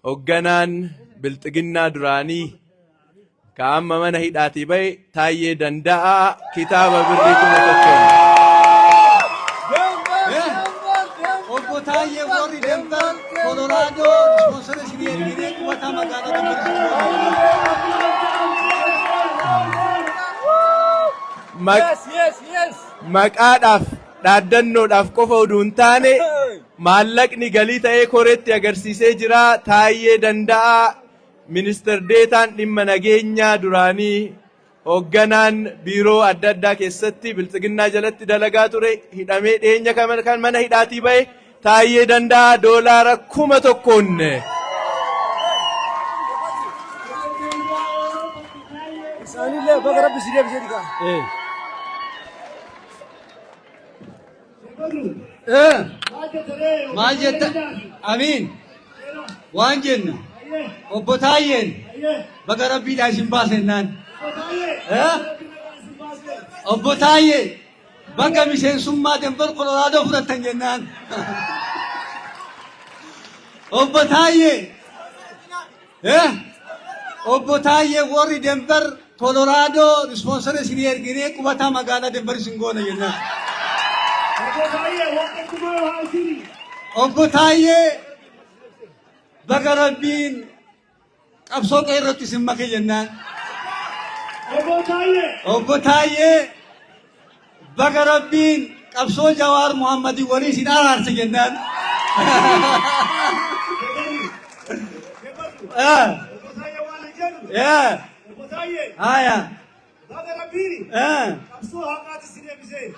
Hogganaan Bilxiginnaa duraanii ka amma mana hidhaatii ba'e Taayyee Danda'aa kitaaba birrii kuma tokkoon. Obbo Taayyee warri Denver, Colorado, sponsor isinii erginee qubataa magaalota Maq- Maqaadhaaf dhaaddannoodhaaf qofa oduu hin taane Maallaqni galii ta'ee koreetti agarsiisee jira, Taayyee Danda'aa, Minister Deetaan Dhimma Nageenyaa duraanii, Hogganaan Biiroo adda addaa keessatti Biltsiginnaa jalatti dalagaa ture hidhamee dhiyeenya kana kan mana hidhaatii ba'e Taayyee Danda'aa doolaara kuma tokkoon Isaanillee baga rabbi si deebisee dhigaa. Maal jetta? Amiin. Waan jenna. Obbo Taayyeen baga rabbiidhaa isin baasennaan. Obbo Taayyee baga miseensummaa Denver Kolooraadoo fudhattan jennaan. Obbo Taayyee. Eh! Obbo Taayyee warri Denver, Colorado ispoonsara isinii erginee qubataa magaalaa Denver isin goona jennaan. Obbo Taayyee warra kumaa haasiri. Obbo Taayyee baga Rabbiin qabsoo qe'ee irratti isin make jennaan. Obbo Taayyee. Obbo Taayyee Baga Rabbiin qabsoo Jawaar Muhammadiin walii isin araarse jennaan. Eh, eh, haya, eh,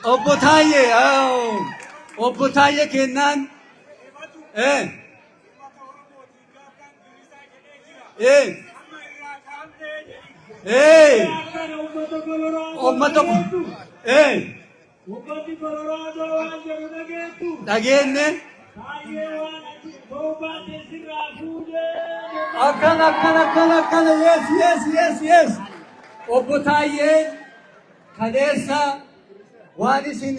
Obbo Taayyee, oh, Obbo Taayyee kennaan, eh, Ee. Ee. Uummata ko. Ee. Dhageenne. Akkana akkana akkana akkana yes yes yes yes. Obbo Taayyee kaleessa waan isin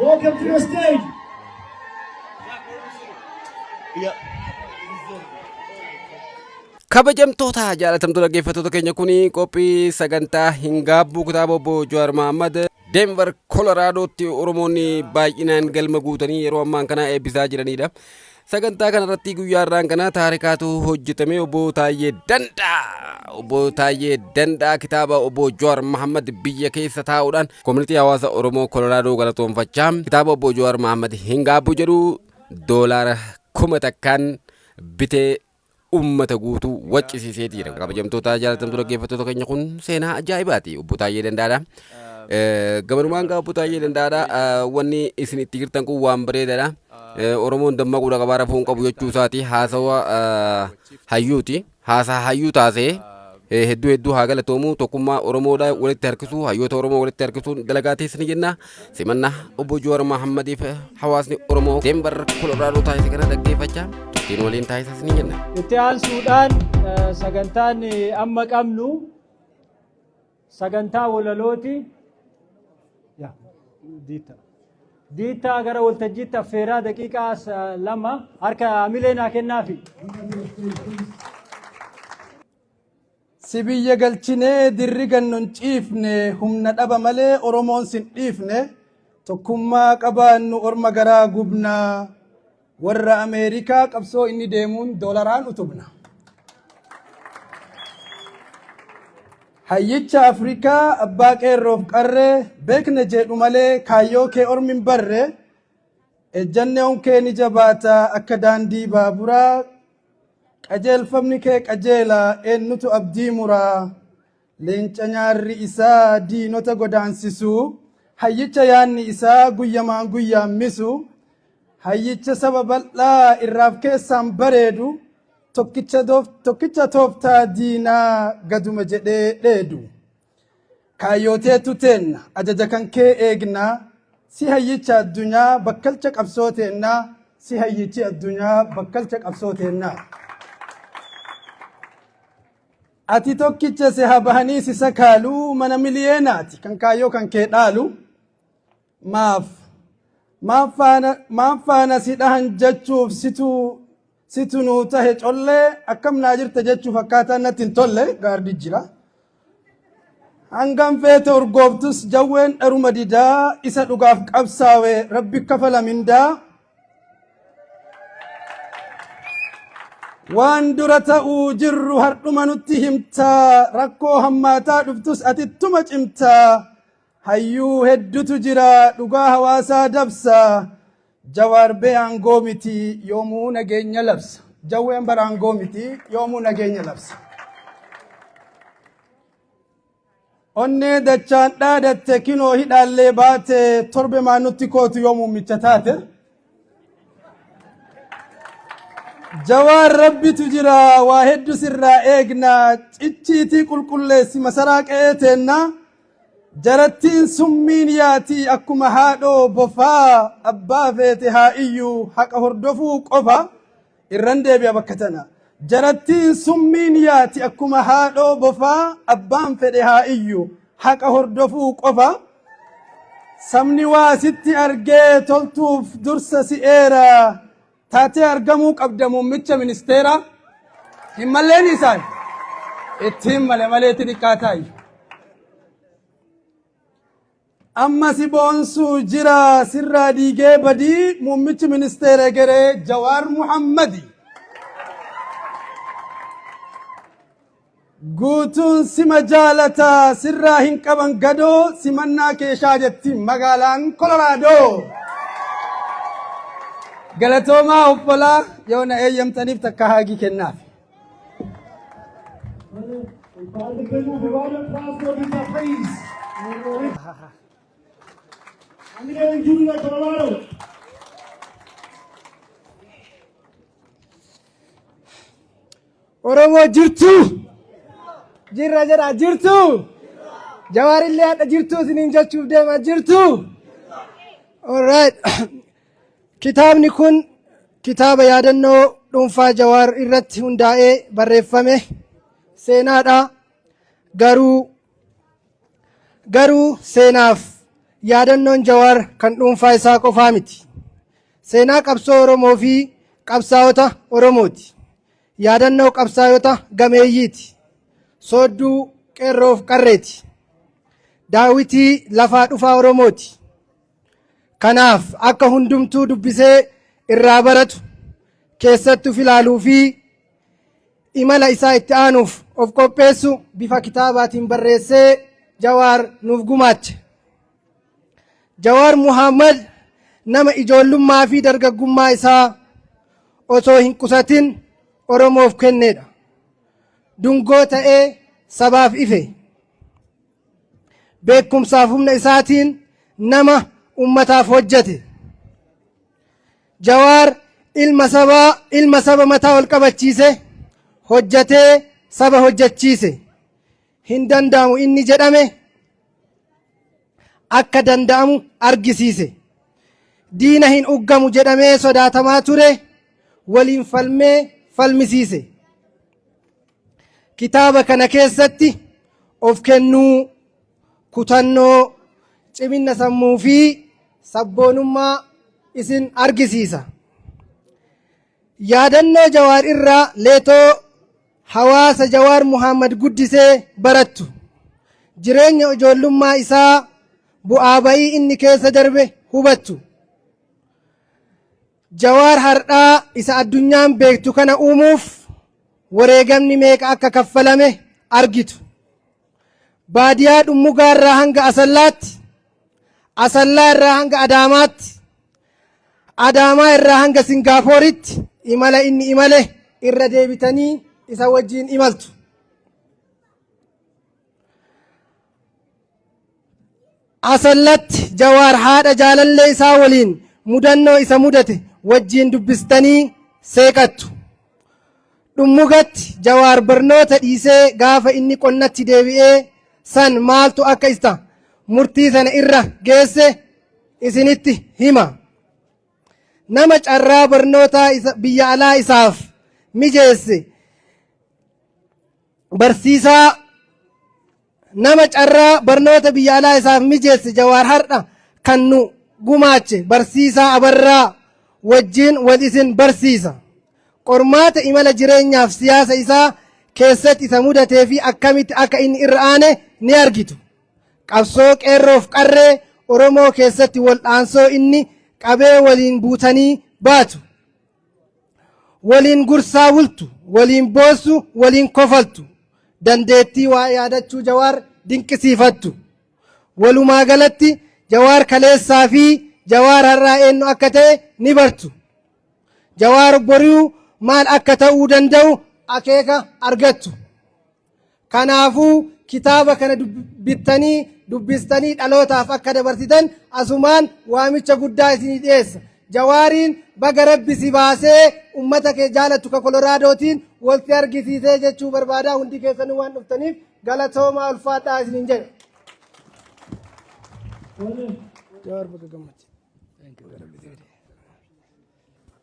Welcome to the stage. Kabajamtoota jaalatamtoota dhaggeeffattoota keenya kun qophii sagantaa hin gaabbuu kitaaba obbo Jawaar Mahaammad Denver Koloraadotti Oromoonni baay'inaan galma guutanii yeroo ammaan kana eebbisaa jiranidha. Sagantaa kanarratti guyyaa irraan kana taarikaatu hojjetame obbo Taayyee Dandaa. Obbo Taayyee Dandaa kitaaba obbo Jawaar Mahammad biyya keessa taa'uudhaan koomunitii hawaasa Oromoo Kolooraadoo galatoomfachaa kitaaba obbo Jawaar Mahammad hin gaabbu jedhu doolaara kuma takkaan bitee ummata guutuu waccisiisee jira. Kabajamtoota jaalatamtuu dhaggeeffattoota keenya kun seenaa ajaa'ibaati. Obbo Taayyee Dandaadha. Gamanumaan gaa Obbo Taayyee Dandaadha. Wanni isin itti jirtan kun waan bareedaadha. Oromoon dammaquudha qabaa rafuun qabu jechuu isaati. Haasawa hayyuuti. Haasaa hayyuu taasee Eh, hedduu hedduu haa galatoomu tokkummaa Oromoodha walitti harkisuu hayyoota Oromoo walitti harkisuun dalagaa teessa ni jenna simannaa obbo Joowar Mahaammadiif hawaasni Oromoo Deembar Koloraadoota taasise kana dhaggeeffachaa turtiin waliin taasisas ni jenna. Itti aansuudhaan eh, sagantaan eh, amma qabnu sagantaa walalooti. Yaa, diitta. Diittaa gara waltajjiitti affeeraa daqiiqaa as- lama harka hamilee naa kennaafi. Si biyya galchinee dirri gannon ciifne humna dhaba malee Oromoon sin dhiifne tokkummaa qabaannu orma garaa gubna Warra Ameerikaa qabsoo inni deemuun doolaraan utubna. Hayyicha Afrikaa abbaa qeerroof qarree beekna jedhu malee kaayyoo kee ormi hin barre ejjannoon kee ni jabaata akka daandii baaburaa qajeelfamni kee qajeela eennutu abdii muraa Leenca nyaarri isaa diinota godaansisu, hayyicha yaanni isaa guyyamaan guyyaan misu, hayyicha saba bal'aa irraaf keessaan bareedu, tokkicha, doof, tokkicha tooftaa diinaa gaduma jedhee dheedu. Kaayyooteetu teenna, ajaja kan kee eegna, si hayyicha addunyaa bakkalcha qabsoo teenna, si hayyichi addunyaa bakkalcha qabsoo teenna. Ati tokkicha si haa bahanii si sakaalu mana miliyeenaati kan kaayyoo kan kee dhaalu maaf maaf faana maaf faana si dhahan jechuuf situ situ nuu tahe collee akkam naa jirta jechuuf akkaataa natti hin tolle gaardi jira. Hangam feete urgooftus jawween dharuma didaa isa dhugaaf qabsaawe rabbi kafala mindaa waan dura ta'uu jirru hardhuma nutti himtaa rakkoo hammaataa dhuftus ati ittuma cimtaa hayyuu heddutu jira dhugaa hawaasaa dabsa jawaar bee aangoo miti yoomuu nageenya labsa jawween bara aangoo miti yoomuu nageenya labsa Onnee dachaan dhaadatte kinoo hidhaallee baate torbe maa nutti kootu yoo muummicha taate. Jawaan rabbitu jira waa heddu sirraa eegna cicciitii qulqulleessi masaraa qe'ee teenna jarattiin summiin yaati akkuma haadhoo bofaa abbaa feete haa iyyuu haqa hordofuu qofa. irran deebi'a bakka tana jarattiin summiin yaati akkuma haadhoo bofaa abbaan fedhe haa iyyu haqa hordofuu qofa sabni waa sitti argee toltuuf dursa si eera taatee argamuu qabda muummicha ministeera hin malleen isaan ittiin male maleetti xiqqaa taayyu. Amma si boonsu jira sirraa diigee badii muummichi ministeera egeree Jawaar Muhammadi. Guutuun sima jaalata sirraa hin qaban gadoo simannaa keeshaa jetti magaalaan Kolooraadoo. Galatoomaa obbolaa yoo na eeyyamtaniif takka haagii kennaaf. Oromoo jirtu! Jirra jedha jirtu! Jawaarillee hadha jirtu isiniin jechuuf deema jirtu! All right. Kitaabni kun kitaaba yaadannoo dhuunfaa Jawaar irratti hundaa'ee barreeffame seenaadha. Garuu garuu seenaaf yaadannoon Jawaar kan dhuunfaa isaa qofaa miti. Seenaa qabsoo Oromoo fi qabsaa'ota Oromooti. Yaadannoo qabsaa'ota gameeyyiiti. Soodduu qeerroof qarreeti. Daawitii lafaa dhufaa Oromooti. Kanaaf akka hundumtuu dubbisee irraa baratu keessatti of ilaaluu fi imala isaa itti aanuuf of qopheessu bifa kitaabaatiin barreessee Jawaar nuuf gumaache. Jawaar Muhammad nama ijoollummaa fi dargaggummaa isaa osoo hin qusatin Oromoof kennedha. Dungoo ta'ee sabaaf ife. beekumsaaf humna isaatiin nama ummataaf hojjate. Jawaar ilma sabaa ilma saba mataa ol qabachiise hojjatee saba hojjachiise. Hin danda'amu inni jedhame akka danda'amu argisiise. Diina hin uggamu jedhamee sodaatamaa ture waliin falmee falmisiise. Kitaaba kana keessatti of kennuu, kutannoo, ciminna sammuu fi sabboonummaa isin argisiisa. Yaadannoo Jawaar irraa leetoo hawaasa Jawaar Muhammad guddisee barattu. Jireenya ijoollummaa isaa bu'aa ba'ii inni keessa darbe hubattu. Jawaar hardhaa isa addunyaan beektu kana uumuuf wareegamni meeqa akka kaffalame argitu. Baadiyaa Dhummugaa irraa hanga Asallaatti, Asallaa irraa hanga Adaamaatti, Adaamaa irraa hanga Singaapooritti imala inni imale irra deebitanii isa wajjin imaltu. Asallatti Jawaar haadha jaalallee isaa waliin mudannoo isa mudate wajjiin dubbistanii seeqattu. Dhummugatti Jawaar barnoota dhiisee gaafa inni qonnatti deebi'ee san maaltu akka isa murtii sana irra geesse isinitti hima. Nama carraa barnootaa biyya alaa isaaf mijeesse Barsiisaa nama carraa barnoota biyya alaa isaaf mijeesse Jawaar har'a kan nu gumaache barsiisaa Abarraa wajjin wal isin barsiisa. Qormaata imala jireenyaaf siyaasa isaa keessatti isa mudatee fi akkamitti akka inni irra aane ni argitu. Qabsoo qeerroof qarree Oromoo keessatti wal'aansoo inni qabee waliin buutanii baatu. waliin gursaa bultu, waliin boossu, waliin kofaltu, dandeettii waa yaadachuu Jawaar dinqisiifattu. Walumaa galatti Jawaar kaleessaa fi Jawaar har'aa eenyu akka ta'e ni bartu. Jawaar bori'uu maal akka ta'uu danda'u akeeka argattu. Kanaafuu kitaaba kana bittanii dubbistanii dhalootaaf akka dabarsitan asumaan waamicha guddaa isinii dhiyeessa. Jawaariin baga rabbi si baasee ummata kee jaalattu ka Koloraadootiin wal si argisiisee jechuu barbaadaa hundi keessanuu waan dhuftaniif galatoomaa ulfaadhaa isiniin jedha. Jawaar baga gammachi.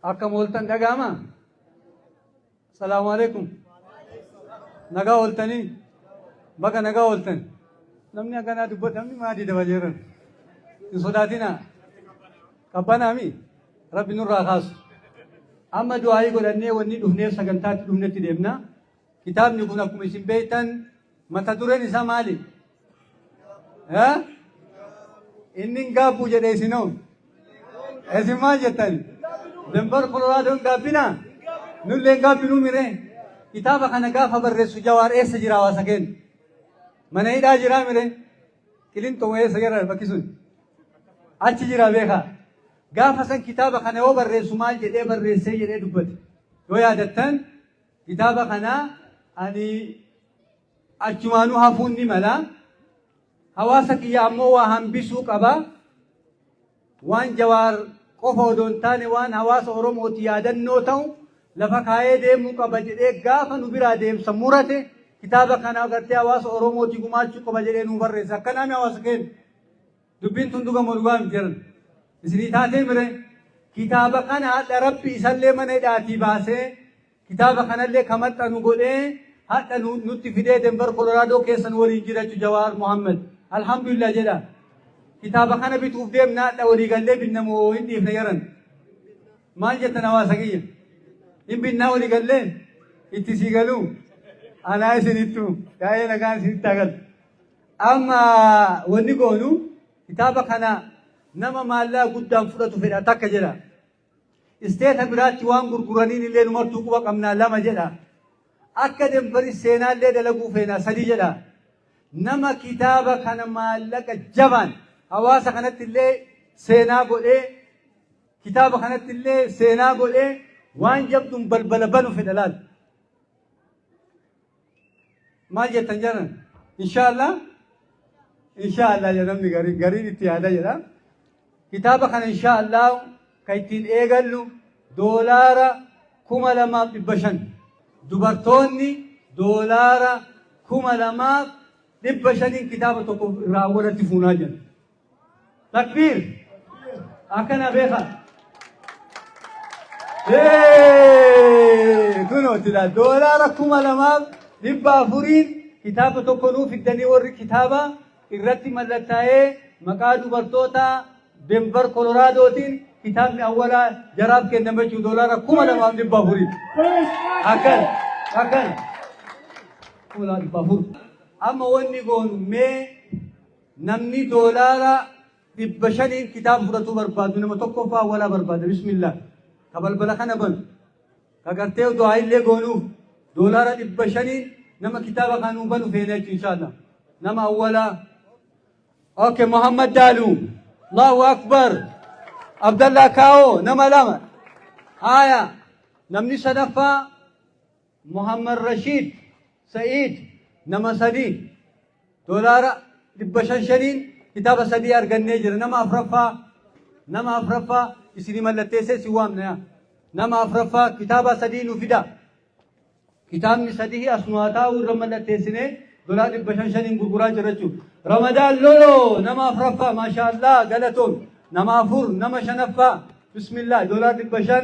Akka mooltan dhaga'ama. Salaamu alaikum. Nagaa ooltanii baga nagaa ooltan. Namni akkanaa dubbatu namni maadii daba jeeran. Hin sodaatinaa. Qabbanaami rabbi nurraa kaasu. Amma du'aayii godhannee wanni dhufneef sagantaatti dhufnetti deemna. Kitaabni kun akkuma isin beektan Mata dureen isaa maali? Inni hin gaabbu jedhe isinoo. Isin maal jettan? Denver Colorado hin gaabbina? Nullee hin gaabbinu mire. Kitaaba kana gaafa barreessu jawaar eessa jira hawaasa keenya? Mana hidhaa jiraa mire? Qilinxoo eessa jira bakki sun? Achi jira beekaa. Gaafa san kitaaba kana yoo barreessu maal jedhee barreessee jedhee dubbate. Yoo yaadattan Kitaaba kana ani achumaanuu hafuun ni mala. Hawaasa kiyya ammoo waa hambisuu qaba. Waan Jawaar qofa odoo hin taane waan hawaasa Oromooti yaadannoo ta'u lafa kaayee deemuu qaba jedhee gaafa nu biraa deemsa murate kitaaba kana agartee hawaasa Oromooti gumaachuu qaba jedhee nuu barreesse. Akkanaami hawaasa keenya. Dubbiin tun dhuga moo dhugaa miti jaran? Isinii taatee mire kitaaba kana hadha rabbi isallee mana hidhaatii baasee kitaaba kanallee ka maxxanu godhee hadha nu- nutti fidee Denver Colorado keessa nu waliin jirachu Jawaar Muhammad. Alhamdulillah jedha. Kitaaba kana bituuf deemna hadha walii gallee binna moo hin dhiifne jaran. Maal jettan hawaasa kiyya? Hin binnaa walii gallee itti sii galuu. Anaa isinittu yaa'ee nagaan isinitti haa galu. Amma wanni goonu kitaaba kana nama maallaqa guddaan fudhatu fedha takka jedha. Isteeta biraatti waan gurguraniin illee numartuu quba qabnaa lama jedha. Akka denbari seenaa illee dalaguu feenaa sadii jedha. Nama kitaaba kana maallaqa jabaan hawaasa kanatti illee seenaa godhee kitaaba kanatti illee seenaa godhee waan jabduun balbala banu fedha laal. Maal jettan jaran? Inshaallah inshaallah jedha namni gariin gariin itti yaada jedha. Kitaaba kana inshaallah kan ittiin eegallu doolaara kuma lamaaf dhibba shan. Dubartoonni doolaara kuma lamaaf dhibba shaniin kitaaba tokko irraa walatti fuunaa jiran. Takbiir! Akkana beeka. Hee! Kunoo jira doolaara kuma lamaaf dhibba afuriin kitaaba tokko nuu fiddanii warri kitaaba irratti mallattaa'ee maqaa dubartootaa Denver Koloraadootiin kitaabni awwalaa jaraaf kenname jechuun doolaara kuma lamaaf dhibba afuriin. Akkana! Akkana! Kuma lamaaf dhibba afur. Amma wanni goonu mee Namni doolaara dhibba shaniin kitaaba fudhatuu barbaadu nama tokkoffaa awwalaa barbaada bismillah ka balbala kana banu ka gartee du'aa illee goonuuf doolaara dhibba shaniin nama kitaaba kan nuu banu feene jechuun inshallah nama awwalaa ok muhammad daaluu allahu akbar abdallaa kaawoo nama lama haya namni sadaffaa Mohammed Rashiid Sa'iid nama sadii doolaara dhibba shan shaniin kitaaba sadii argannee jira. Nama afraffaa nama afraffaa isinii mallatteessee si waamna. Nama afraffaa kitaaba sadii nu fida. Kitaabni sadii as nu haa taa'u irra mallatteessinee doolaara dhibba shan shaniin gurguraa jira jechuudha. Ramadaan Loloo nama afraffaa maashaallah galatoon nama afur nama shanaffaa bismillah doolaara dhibba shan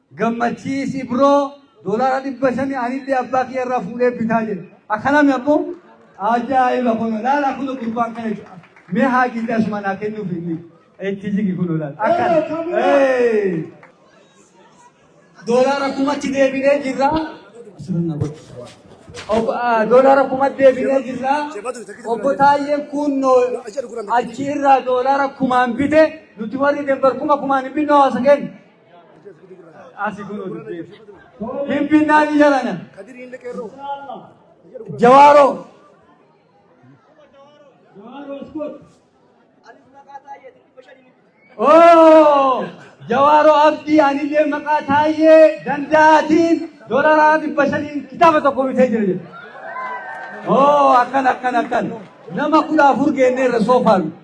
Gammachiisi bro doolaara dhibba shani anillee abbaa kiyya irraa fuudhee bitaa jedhe akkanami abbo ajaa'iba kuno laala kuno gurbaan kana jechuudha mee haajiillee asuma naa kennuuf inni itti jigi kuno laala akkan Hey! doolaara kumatti deebinee jirra asirra godhu Ob- ah, doolaara kumatti deebinee jirra obbo Taayyeen kunnoo achi irraa doolaara kumaan bite nuti warri dembar kuma kumaan hin binne hawaasa keenya Asi kun dubbiin. Finfinnaa ni jalana. Jawaaroo. Oo! Jawaaroo Abdii anillee maqaa taayee danda'aatiin dolaraa dhibba shaniin kitaaba tokko bitee jira jedhu. Oo akkan akkan akkan nama kudha afur geennee irra soofaan.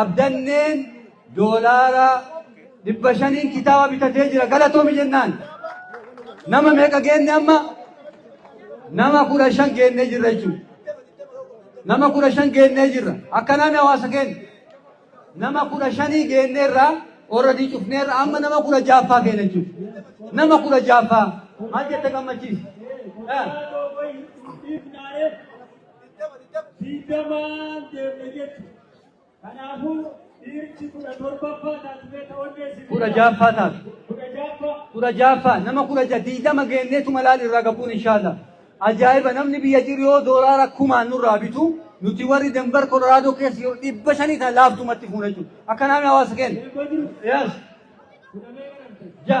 Abdanneen doolaara dhibba shaniin kitaaba bitatee jira galatoomi jennaan nama meeqa geenne amma nama kudha shan geennee jirra jechuudha. Nama kudha shan geennee jirra akkanaami hawaasa keenya nama kudha shanii geennee irraa orradii cufnee irraa amma nama kudha jaaffaa keenya jechuudha. Nama kudha jaaffaa maal jette gammachiisa? digdamaan deemne jechuudha. Kanaafuu dhiirchi kudha torbaffaa taatu beekta onnee si kudha jaaffaa taatu. kudha jaaffaa kudha jaaffaa nama kudha ja digdama geenneetu malaal irraa gabuun inshaalla. Ajaa'iba namni biyya jiru yoo doolaara kumaan nurraa bitu nuti warri Denver Colorado keessa yeroo dhibba shanii tan laaftumatti fuuna jechuudha. Akkanaa mi hawaasa keenya? eebboo jiru Yes. kudha meeqa namtee? Ja.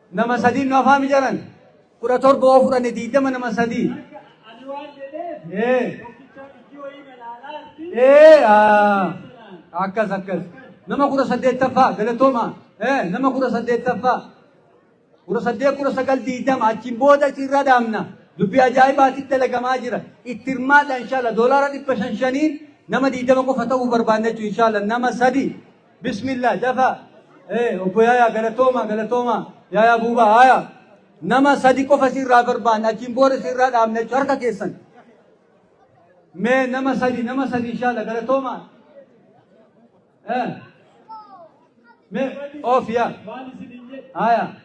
Nama sadii nu afaa mijaran. Kudha torba oo fudhanne diidama nama sadii. Ani waan jedheef Ee. tokkicha ijji wayii na laalaa jirti. Ee. aa. Akkas akkas. Nama kudha saddeettaffaa galatooma. Ee nama kudha saddeettaffaa. Kudha saddeet kudha sagal diidama achiin booda irra dhaabna. Dubbii ajaa'ibaatti dalagamaa jira. Itti hirmaadha inshaalla doolaara dhibba shan shaniin nama diidama qofa ta'uu barbaanne jechuudha inshaalla nama sadii. Bismillah dafaa. Ee obbo Yaayaa galatooma galatooma Yaayaa Buubaa haaya. Nama sadi qofa sirraa barbaanna achiin booda sirraa dhaabna jechuudha harka keessan. Mee nama sadi nama sadi inshaalla galatooma. Ee. Mee of yaa. Haaya.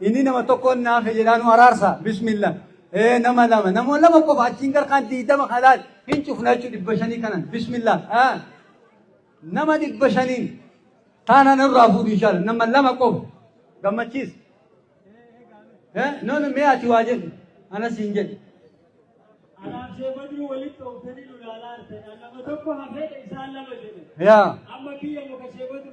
Inni nama tokkoon naafe jedhaa nu araarsa. Bismillah. Ee nama lama nama lama qofa achiin garkaan diidama halaal hin cufna jechuudha dhibba shanii kanan. Bismillah. Haa. Nama dhibba shaniin taana nurraa fuudhu inshaalla nama lama qofa gammachiis. Ee noonu mee ati waa jedhu anas hin jedhu. Alaabsee baduu walitti oofanii nu ilaalaa artan. Nama tokko hafeedha isaan lama jedhe. Yaa. Amma biyya muka shee baduu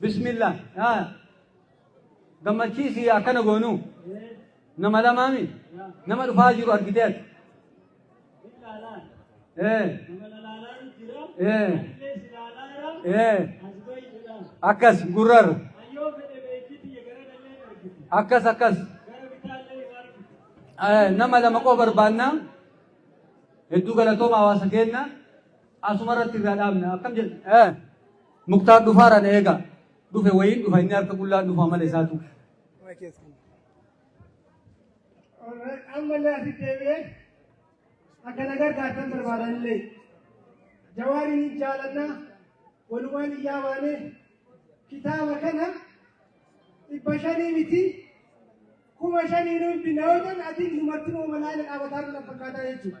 Bismillah yaa gammachiisi akkana goonuu nama lamaami nama dhufaa jiru argitee ati. Ee ee ee akkas gurrarra akkas akkas Ee, nama lama qofa barbaanna hedduu galatooma hawaasa keenya asuma irratti irraa dhaabna akkam jedhu. Ee. Muktaar dhufaara na eega. Dhufe wayiin dhufa inni harka qullaan dhufa mala isaatu. Ammallee asitti deebi'ee akka na gargaartan barbaadanillee jawaariin hin jaalanna walumaan hin yaabaane kitaaba kana dhibba shanii miti kuma shanii nuun binna yoo ta'an atiin numartinoo malaala dhaabataa nu fakkaataa jechuudha.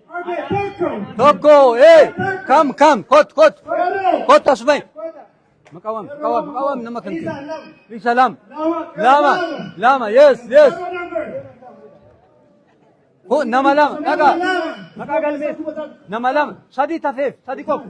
tokko ee kam kam kot kot kot asumay maqawam maqawam maqawam nama kan isa lam lama lama yes yes ko nama lama dhaga maqaa galmees nama lama sadii tafeef sadii qofa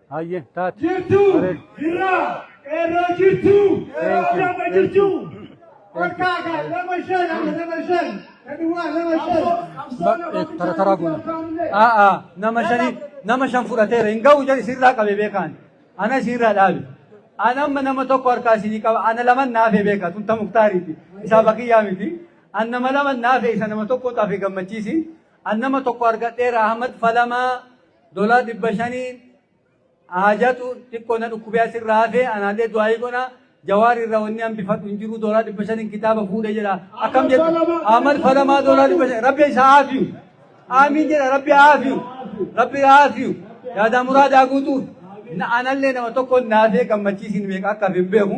Hayyee taate. Jirtuu Bareedu. jirraa qeerroo jirtuu qeerroo Thank you, jabba thank jirtuu. you. Olkaa kan lama shan amma lama shan kan duwwaa lama shan. Ba- eh, Tara taraa goona. A'a nama shani nama shan fudhateera hin ga'u jedhi sirraa qabe beekaan. Ana sirraa dhaabe. Ana amma nama tokko harkaa isinii qaba. Ana lama naafe beeka. Tun ta muktaariiti. Isaa bakiyyaa miti. An nama lama naafe isa nama tokko tafe gammachiisi. An nama tokko argadheera Ahmad Falamaa. Dolaa dhibba shaniin haajatu xiqqoo na dhukkubee asirraa hafee anaallee du'aayii godha. Jawaar irraa wanni hambifadhu hin jiru doolaa dhibba shaniin kitaaba fuudhe jedha. Akkam jettu Ahmad Falamaa doolaa dhibba shan rabbi isa haafiyu. Aamiin jedha rabbi haafiyu. Rabbi haafiyu. Yaadaa muraadaa guutuuf. Anallee nama tokko naafee gammachiisiin meeqa akka hin beeku.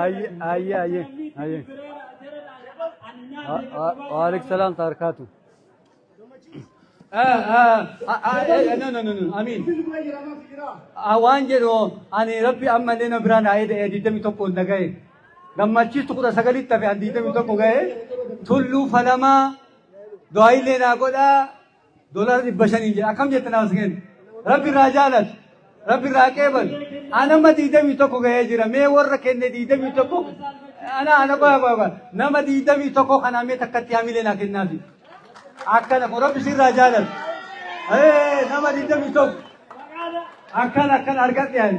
Ayyee ayyee ayyee ayyee. Waaleykum salaam taarkaatu. No no no no amiin. Waan jedhu ani rabbi amma illee na biraan haa eeda'e digdami tokkoon na gahe. Gammachiistu kudha sagalitti hafe ani digdami tokko gahe. Tulluu falamaa du'aa illee naa godhaa. Doolaara dhibba shaniin jedha akkam jette naaf kenna. Rabbi irraa jaalatu. Rabbi irraa qeebalu. Anama diidamii tokko gahee jira. Mee warra kenne diidamii tokko. Ana ana qoya qoya qoya. Nama diidamii tokko kanaa mee takkatti hamilee naa kennaafi. Akkana kun rabbi sirraa jaalatu. Ee nama diidamii tokko. Akkana akkana argadhe ani.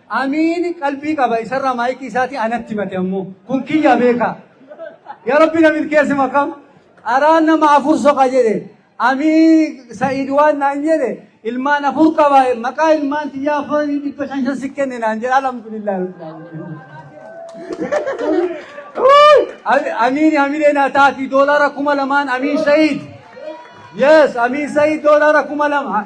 Amiin qalbii qaba isarraa maayikii isaatii anatti himate ammoo kun kiyya beeka yaa rabbi na milkeessi makam qaraa nama afur soqa jedhe amiin sa'iid waan naan jedhe ilmaan afur qaba maqaa ilmaan tiyyaa afurii dhibba shan shan si kenne naan jedhe alhamdulillah amiin hamilee naa taati doolaara kuma lamaan amiin sa'iid yes amiin sa'iid doolaara kuma lama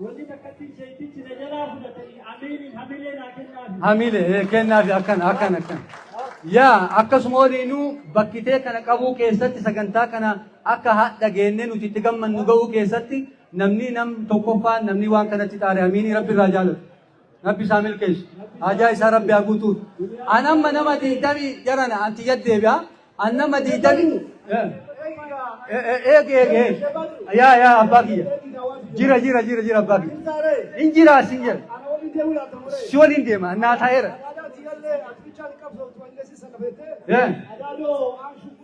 Wanni takkatti sheekkichi na jalaa fudhatanii amiiriin hamilee naa kennaafi. Hamilee ee, kennaafi akkana akkana akkana. Yaa akkasuma waliinuu bakkitee kana qabuu keessatti sagantaa kana akka haadha geennee nuti itti gammannu ga'uu keessatti namni nam tokkoffaan namni waan kanatti xaare amiinii rabbi irraa jaalatu. Rabbi isaa milkeessu. Haajaa isaa Rabbi haa guutuuf. An amma nama diidami jarana anti yaddeebi'a. An nama diidami. Eegi eegi eegi. Yaa yaa abbaa kiyya. Jira jira jira jira abbaa kiyya. In jira asin jira. Si waliin deema annaa taa'eera.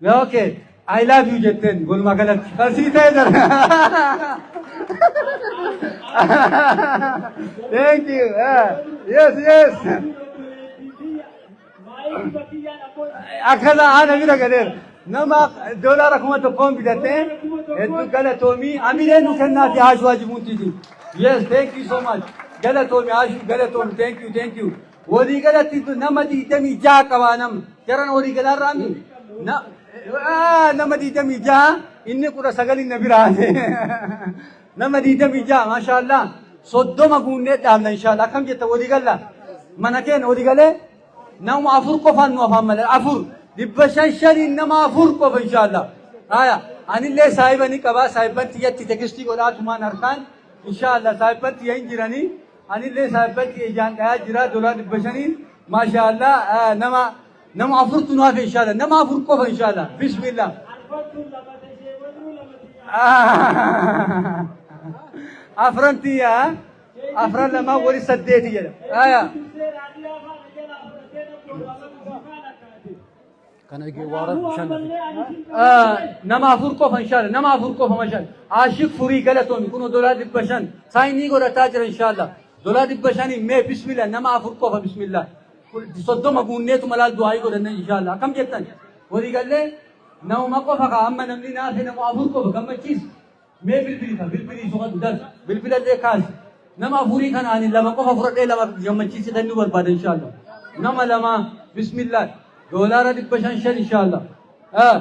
Yaa okay. I love you jetteen walumaa galatti. Kan sii ta'e jira. Thank you. Ah, Yes, yes. Akkana haala bira galeera. Nama doolaara kuma tokkoon bitattee hedduu galatoomii amilee nu kennaati haashuu hajimuutiiti. Yes, thank you so much. Galatoomi haashuu galatoomi thank you thank you. Walii galatti nama 26 qaba nama. Jaran walii galaa irraa mi? Na- Ah, Nama 26 inni 19 na biraa. Nama 26 maashaallah. Soddoma guunnee dhaabna inshaallah. Akkam jetta walii galla? Mana keenya walii galee nama afur qofaan nu afaan malee afur. Dhibba shan shaniin nama afur qofa inshaallah. Haya, anillee saahiba ni qaba. Saahiban tiyyatti tekstii godhaa tumaan harkaan. Inshaallah saahiban tiyya hin jiranii. Anillee saahibbatti ijaan dhayaa jira dolaa dhibba shaniin maashaa Allah nama nama afurtu nu hafe inshaalla nama afur qofa inshaalla bismillah. Afran tiyya afran lamaa wali saddeeti jedha. Aya. Kana eegee waara bishaan na fide. Nama afur qofa inshaalla nama afur qofa mashaalla. Aashik furii galatoomi kunoo dolaa dhibba shan saayinii godhataa jira inshaalla. Dolaa dhibba shaniin mee bismillah nama afur qofa bismillah. Soddoma guunneetu malaal du'aayii godhanne inshaalla. Akkam jettan walii gallee nama qofa kaa amma namni naafe nama afur qofa gammachiisa. Mee bilbili kan bilbilii soqadhu darbi. Bilbilallee kaasi. Nama afurii kana ani lama qofa fudhadhee lama gammachiisitan nu barbaada inshaallah. Nama lama bismillah doolaara dhibba shan shan inshaallah. Ah,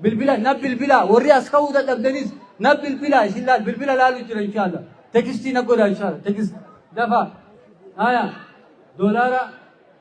Bilbila na bilbila warri as ka'uu dadhabdanis na bilbila isin laal bilbila laalu jira inshaallah. Tekistii na godha inshaallah tekist dafa. Haya doolaara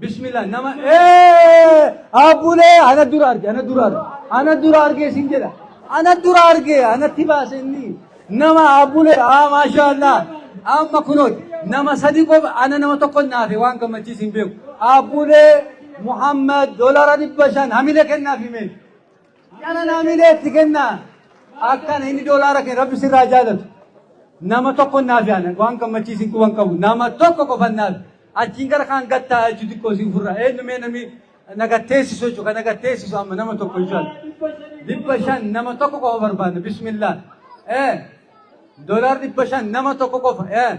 Bismillah nama abbulee ana dura arge ana dura arge ana dura arge isin jedha ana dura arge anatti baase inni nama abbulee aa maashaallah amma kunooti nama sadi qofa ana nama tokko naafe waan gammachiis hin beeku abbulee Muhammad dolara dhibba shan hamile kennaaf himee. Kana naamilee itti kennaa akkana inni doolaara kee rabbi sirraa jaalatu. Nama tokko naaf yaana waan gammachiisin quban qabu nama tokko qofan naaf achiin gara kaan gattaa jechuu xiqqoo siin furra eenyu mee namni nagatteessisu jechuudha kan nagatteessisu amma nama tokko jechuudha. Dhibba shan nama tokko qofa barbaadna bismillah. Eh doolaar dhibba shan nama tokko qofa eh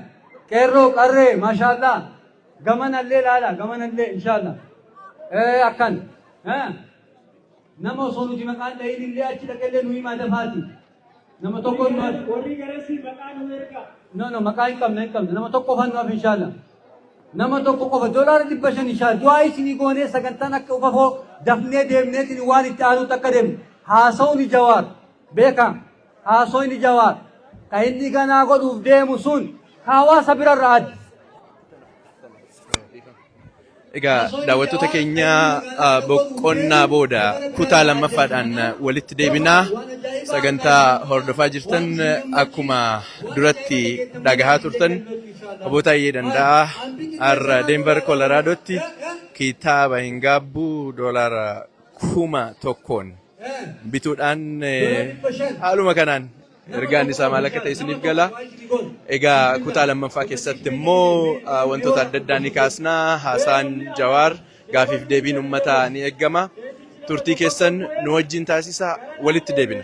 qeerroo qarree maashaallah gamanallee laala gamanallee inshaallah eh akkan eh. Nama osoo nuti maqaan dhayin illee achi dhaqellee nu himaa dafaati. Nama tokko hin maal. Warri garasii maqaa nu erga. No no maqaa hin qabna hin qabna nama tokko qofaan nuuf inshaalla. Nama tokko qofa doolaara dhibba shan inshaalla. Du'aa isinii goonee sagantaan akka ufafoo dafnee deemneetiin waan itti aanutti akka deemne haasawni jawaar beekaa. Haasoyni Jawaar ka inni ganaa godhuuf deemu sun ka hawaasa birarra adda. Egaa daawwattoota keenya ah, boqonnaa booda kutaa lammaffaadhaan ah, walitti deebinaa sagantaa hordofaa jirtan eh, akkuma duratti dhagahaa turtan obbo Taayyee Danda'aa har'a Denver Koloraadootti kitaaba hin gaabbuu doolaara kuma tokkoon bituudhaan haaluma kanaan ergaan isaa maal akka ta'e isiniif gala. Egaa kutaa lammaffaa keessatti immoo wantoota adda addaa ni kaasna. Haasaan Jawaar gaafiif deebiin uummataa ni eegama. Turtii keessan nu wajjin taasisa walitti deebina.